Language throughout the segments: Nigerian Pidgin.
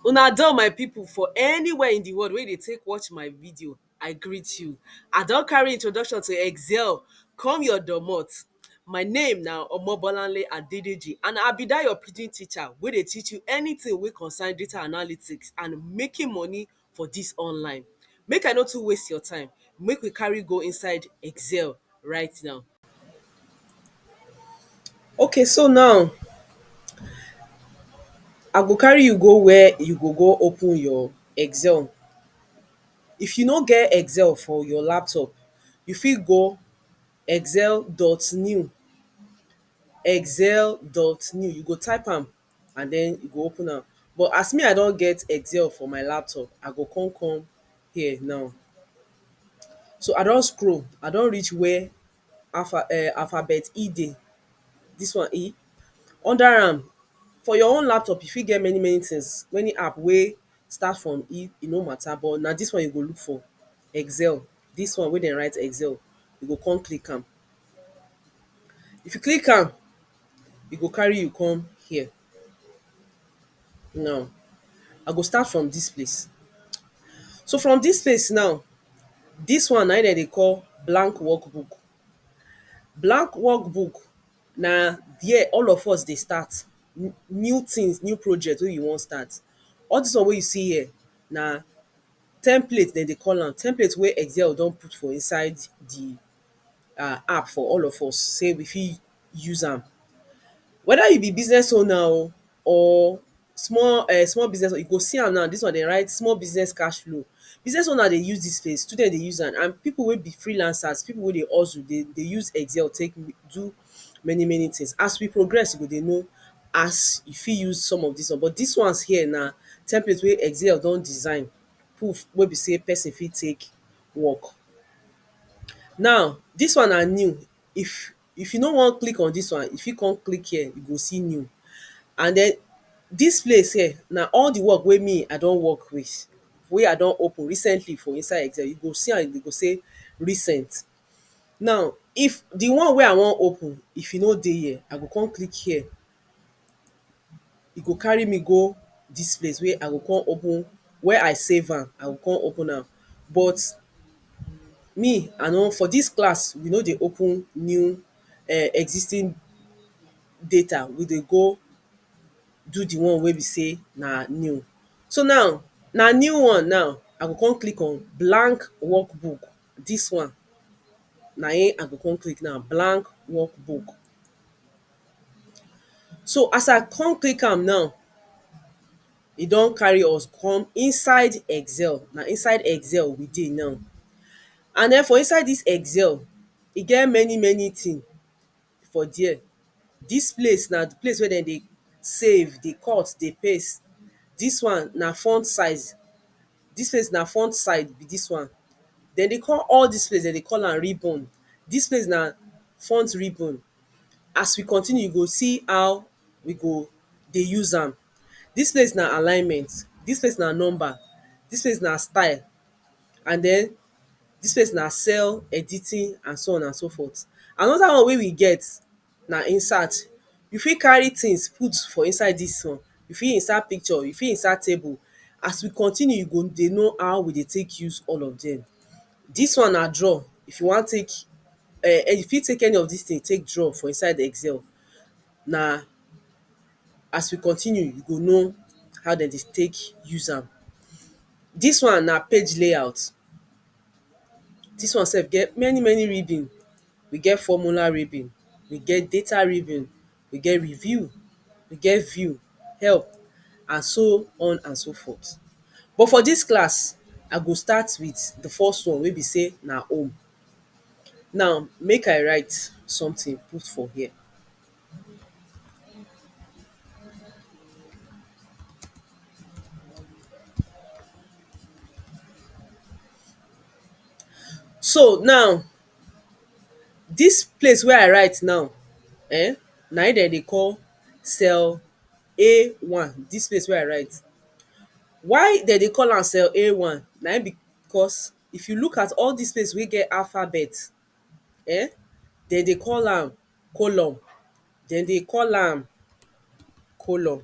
Una done my people for anywhere in the world wey you dey take watch my video I greet you I don carry introduction to excel come your domot my name na Omobolanle Adedeji and I be that your pidgin teacher wey dey teach you anything wey concern data analytics and making money for dis online make I no too waste your time make we carry go inside excel right now ok so now I go carry you go where you go go open your excel if you no get excel for your laptop you fit go excel dot new excel dot new you go type am and den you go open am but as me I don get excel for my laptop I go come come here now so I don scroll I don reach where alpha um alphabet E dey dis one E under am for your own laptop you fit get many many things many app wey start from E e no matter but na dis one you go look for excel dis one wey dem write excel you go come click am if you click am e go carry you come here now I go start from dis place so from dis place now dis one na im dem dey call blank work book blank work book na there all of us dey start new things new project wey you wan start all dis one wey you see here na template dem dey call am template wey excel don put for inside the um app for all of us sey we fit use am. Whether you be business owner o or small um small business owner, you go see am now, dis one dem write small business cash flow. Business owner dey use dis space, student dey use am and pipu wey be freelancers, pipu wey dey hustle dey dey use excel take do many many things. As we progress, we go dey know as you fit use some of dis one. But dis ones here na template wey excel don design put wey be sey person fit take work. Now, dis one na new, if if you no wan click on dis one, you fit come click here, you go see new. And den, dis place here, na all di work wey me I don work with, wey I don open recently for inside Excel, you go see am, you go sey recent. Now, if di one wey I wan open, if e no dey here, I go come click here. e go carry me go dis place wey I go come open where I save am I go come open am but me I no for dis class we no dey open new um existing data we dey go do the one wey be sey na new so now na new one now I go come click on blank work book dis one na im I go come click now blank work book So as I come click am now e don carry us come inside excel. Na inside excel we dey now and den for inside dis excel e get many many thing for there. Dis place na place wey dem dey save, dey cut, dey paste. Dis one na font size. Dis place na font size be dis one. Dem dey call all dis place dem dey call am ribbon. Dis place na font ribbon. as we continue you go see how we go dey use am. Dis place na alignment, dis place na number, dis place na style and den dis place na cell editing and so on and so forth. Another one wey we get na insert. You fit carry things put for inside dis one, you fit insert picture, you fit insert table. As we continue you go dey know how we dey take use all of dem. Dis one na draw, if you wan take um you fit take any of dis thing take draw for inside excel na as we continue you go know how dem dey take use am. Dis one na page layout, dis one sef get many many ribbon, we get formula ribbon, we get data ribbon we get review, we get view, help and so on and so forth. But for dis class, I go start with the first one wey be sey na home. Now, make I write something put for here. So now Dis place wey I write now um na im dem dey call cell A one, dis place wey I write Why dem dey call am cell A one na im be cos if you look at all dis place wey get alphabet um dem dey call am colon dem dey call am colon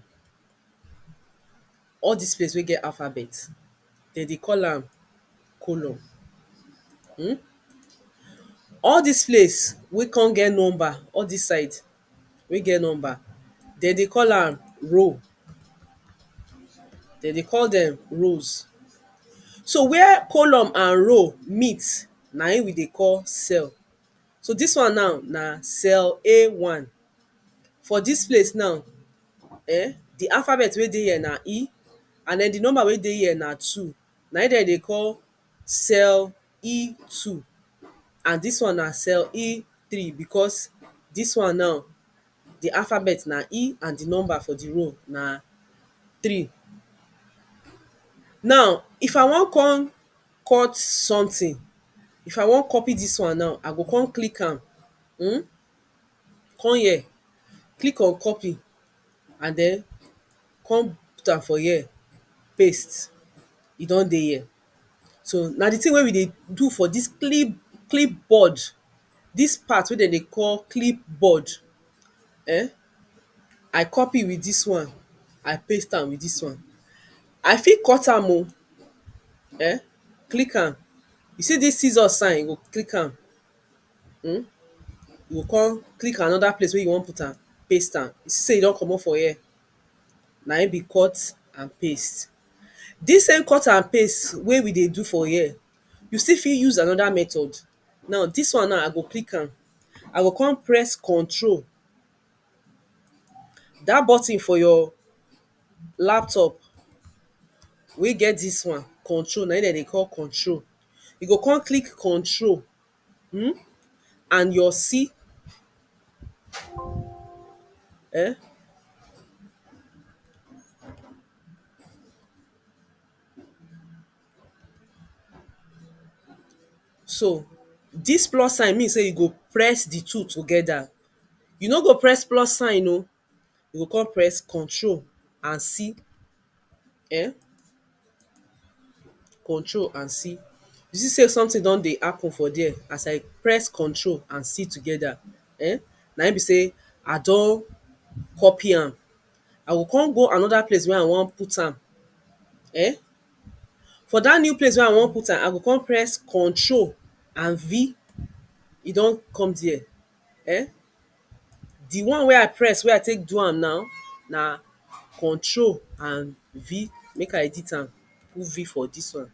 All dis place wey get alphabet, dem dey call am colon um All dis place wey come get number, all dis side wey get number, dem dey call am row. Dem dey call dem rows. So where column and row meet, na im we dey call cell. So dis one now na cell A one. For dis place now um di alphabet wey dey here na E and den di number wey dey here na two na im dem dey call cell E two and dis one na cell E three because dis one now di alphabet na E and di number for di row na three. Now if I wan kon cut sometin, if I wan copy dis one now, I go kon click am um come here click on copy and den come put am for here paste e don dey here so na di thing wey we dey do for dis clip clip board dis part wey dem dey call clip board um I copy with dis one I paste am with dis one I fit cut am oh um click am you see dis scissors sign you go click am um you go come click another place wey you wan put am, paste am, you see sey e don comot for here, na im be cut and paste. Dis same cut and paste wey we dey do for here, you still fit use another method. Now, dis one now, I go click am, I go come press control, dat button for your laptop wey get dis one, control, na im dem dey call control. You go come click control um and your si um so dis plus sign mean sey you go press di two together, you no go press plus sign oh. you go come press control and C um control and C you see sey something don dey happen for there as I press control and C together um na im be sey I don copy am I go come go another place wey I wan put am um for that new place wey I wan put am I go come press control and V e don come there um di one wey I press wey I take do am now na control and V make I edit am put V for dis one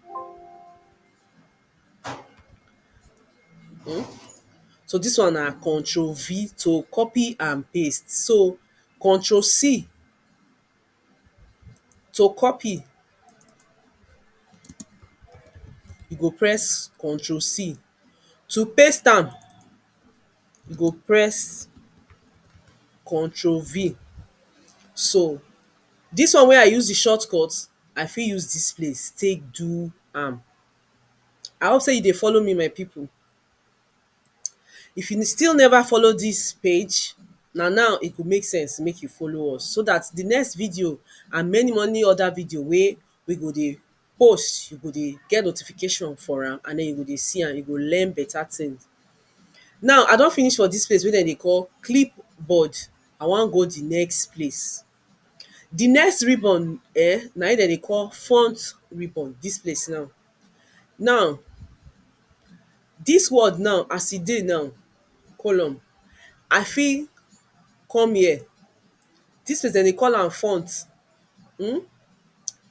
um so dis one na control V to copy and paste so control C To copy you go press control C, to paste am you go press control V. So dis one wey I use di short cut I fit use dis place take do am. I hope sey you dey follow me my pipu. If you still never follow dis page, na now e go make sense make you follow us so dat di next video and many many other video wey we go dey post, you go dey get notification for am and den you go dey see am, you go learn better thing. Now I don finish for dis place wey dem dey call clip board, I wan go di next place. Di next ribbon um na im dem dey call front ribbon, dis place now. Now, dis world now as e dey now column, I fit come here, dis place dem dey call am font um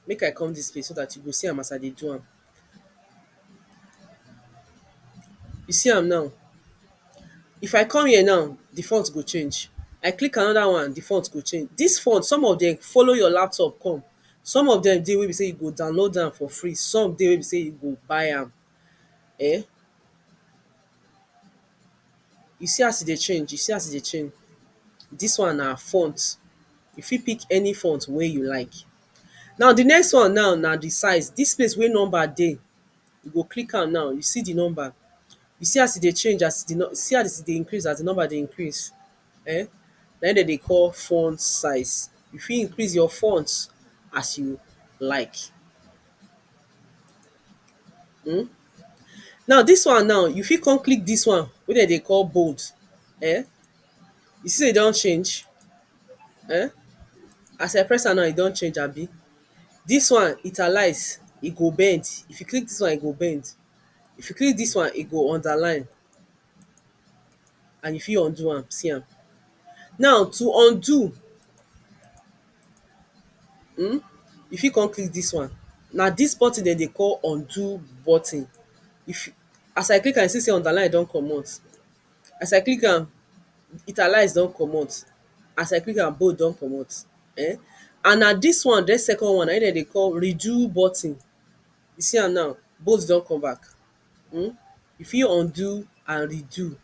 make I come dis place so dat you go see am as I dey do am. You see am now, if I come here now, di font go change, I click anoda one, di font go change. Dis font, some of dem follow your laptop come. Some of dem dey wey be sey you go download am for free, some dey wey be sey you go buy am um You see as e dey change, you see as e dey change Dis one na font. You fit pick any font wey you like. Now the next one now na the size. Dis place wey number dey, you go click am now, you see the number. You see as e dey change as the see as e dey increase as the number dey increase. um na im dem dey call font size. You fit increase your font as you like um. Now dis one now, you fit come click dis one wey dem dey call bold um. You see sey e don change um. As I press am now, e don change abi. Dis one italize, e go bend. If you click dis one, e go bend. If you click dis one, e go underline. and you fit undo am, see am. Now to undo um you fit come click dis one, na dis button dem dey call undo button. If as I click am you see sey underline don comot, as I click am italize don comot, as I click am bold don comot um and na dis one den second one na im dem dey call redo button, you see am now bold don come back. um you fit undo and redo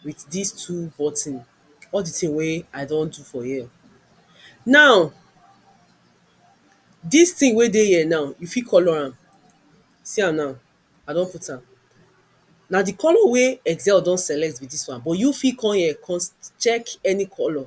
with dis two button all the thing wey I don do for here now dis thing wey dey here now you fit colour am see am now I don put am na the colour wey excel don select be dis one but you fit come here come check any colour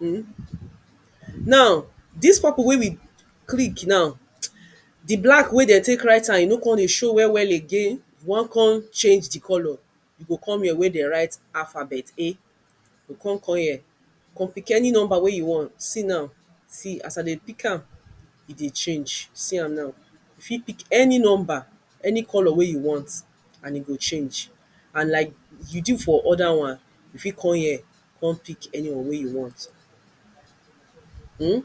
um now dis purple wey we click now di black wey dem take write am e no come dey show well well again, we wan come change di colour you go come here wey dem write alphabet A you go come come here come pick any number wey you want see now see as I dey pick am e dey change see am now you fit pick any number any colour wey you want and e go change and like you do for other one you fit come here come pick anyone wey you want um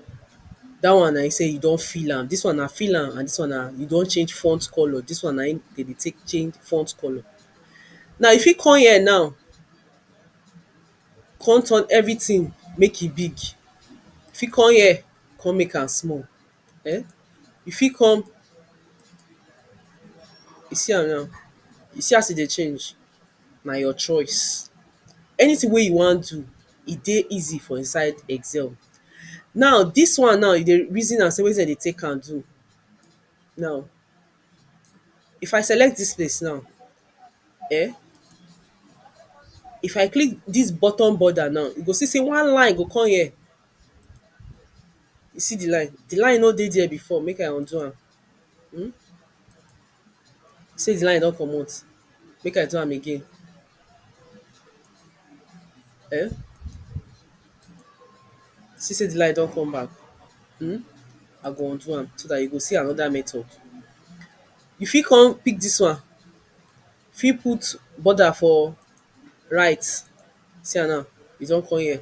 dat one na im sey you don fill am, dis one na fill am and dis one na you don change font colour, dis one na im dem dey take change font colour. Now you fit come here now come turn everything make e big, you fit come here come make am small um you fit come you see am now, you see as e dey change, na your choice. Anything wey you wan do, e dey easy for inside Excel. Now, dis one now, you dey reason am sey wetin dem dey take am do. Now, if I select dis place now, um if I click dis bottom border now, you go see sey one line go come here. You see the line? The line no dey there before. Make I undo am. Hmm? You say the line don comot? Make I do am again. Eh? See say the line don come back? Hmm? I go undo am so dat you go see another method. You fit con pick dis one. Fit put border for right. See am now. E don con here.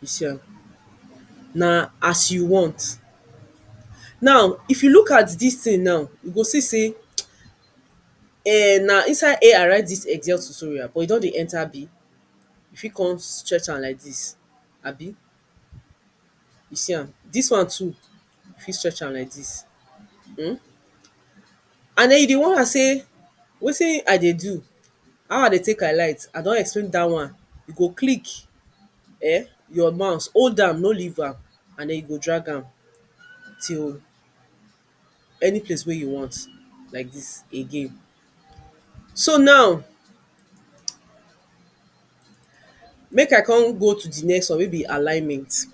Yourself. Na as you want. Now, if you look at dis thing now, you go see sey um na inside ai i write dis excel tutorial but e don dey enter abi? You fit con stretch am like dis abi? You see am? Dis one too you fit stretch am like dis um and den you dey wonder sey wetin I dey do how I dey take alight I don explain dat one you go click um your mouse hold am no leave am and den you go drag am till any place wey you want like dis again so now make I come go to di next one wey be alignment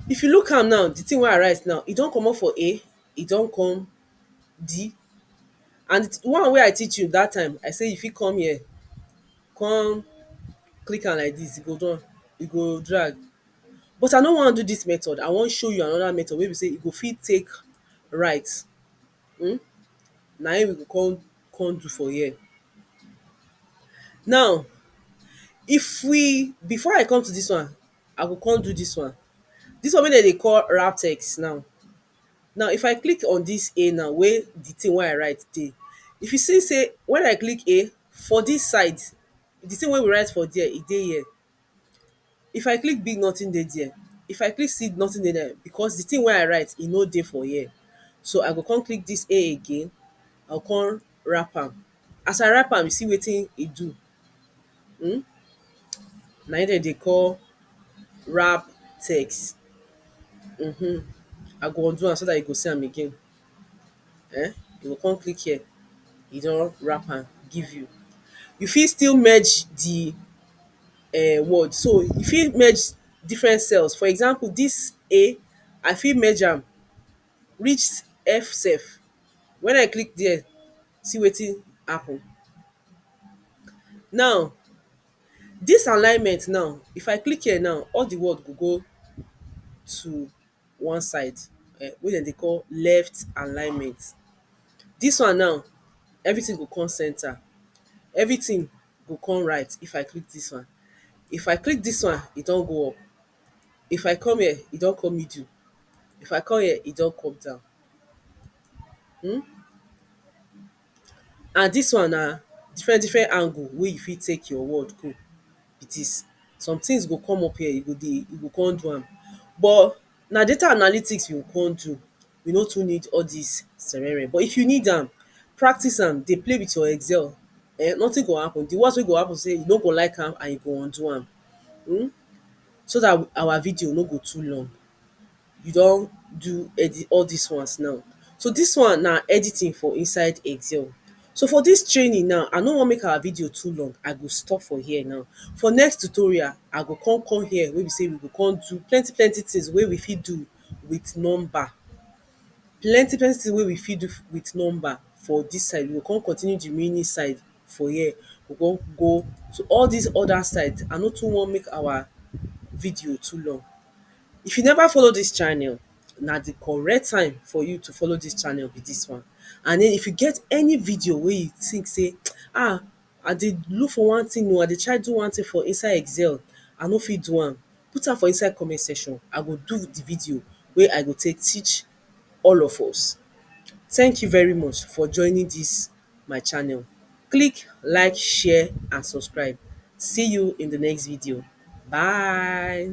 If you look am now, di thing wey I write now, e don komot for A, e don come D and di one wey I teach you dat time, I sey you fit come here come click am like dis, e go done, e go drag But I no wan do dis method, I wan show you another method wey be sey you go fit take write um na im we go come come do for here. Now, if we, before I come to dis one, I go come do dis one. Dis one wey dem dey call RaTeX now. Now, if I click on dis A now wey de thing wey I write dey, if you see sey when I click A, for dis side, de thing wey we write for there, e dey here. If I click big nothing dey there If I click seed nothing dey there because the thing wey I write e no dey for here So I go come click this A again I go come wrap am As I wrap am you see wetin e do um Na im dem dey call wrap text um I go undo am so that you go see am again um you go come click here e don wrap am give you. You fit still merge di um word so you fit merge different cells for example dis A I fit merge am reach F self wen I click there see wetin happen. Now dis alignment now if I click here now all di word go go to one side um wey dem dey call left alignment. Dis one now, everything go come centre, everything go come right if I click dis one. If I click dis one, e don go up, if I come here, e don come middle, if I come here, e don come down. um And dis one na different different angle wey you fit take your word go be dis. Some things go come up here, you go dey you go come do am. But na data analytics you go come do. You no too need all dis sere-reh. But if you need am, practice am, dey play with your excel um nothing go happen. The worst wey go happen be sey you no go like am and you go undo am. um So dat our video no go too long. you don do edit all dis ones now so dis one na editing for inside excel so for dis training now I no want make our video too long I go stop for here now for next tutorial I go come come here wey be sey we go come do plenty plenty things wey we fit do with number plenty plenty things wey we fit do with number for dis side we go come continue the remaining side for here we go come go to all dis other side I no too want make our video too long If you never follow dis channel, na di correct time for you to follow dis channel be dis one. And den if you get any video wey you think sey ah, I dey look for one thing oh, I dey try do one thing for inside excel, I no fit do am, put am for inside comment section, I go do di video wey I go take teach all of us. Thank you very much for joining dis my channel. Click like, share and subscribe. See you in di next video. Bye!